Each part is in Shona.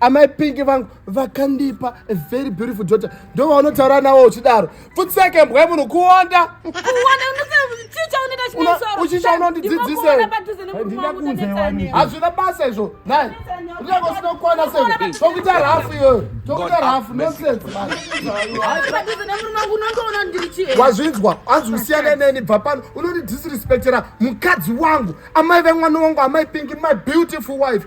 amai pingi vangu vakandipa a very beautiful daughter ndo vaunotaura nawo uchidaro futseke mbwa munhu kuonda uchicha unondidzidzisehazvina basa izvo nai unenge usinokwana se tokuita rafu iyoyo tokuita rafu nonsensewazvinzwa anzi usiyane neni bva pano unondidisrespectera mukadzi wangu amai vemwana wangu amai pingi my beautiful wife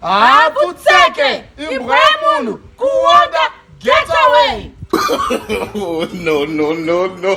haputseke imbwa yemunhu kuwonda get away oh, no no no no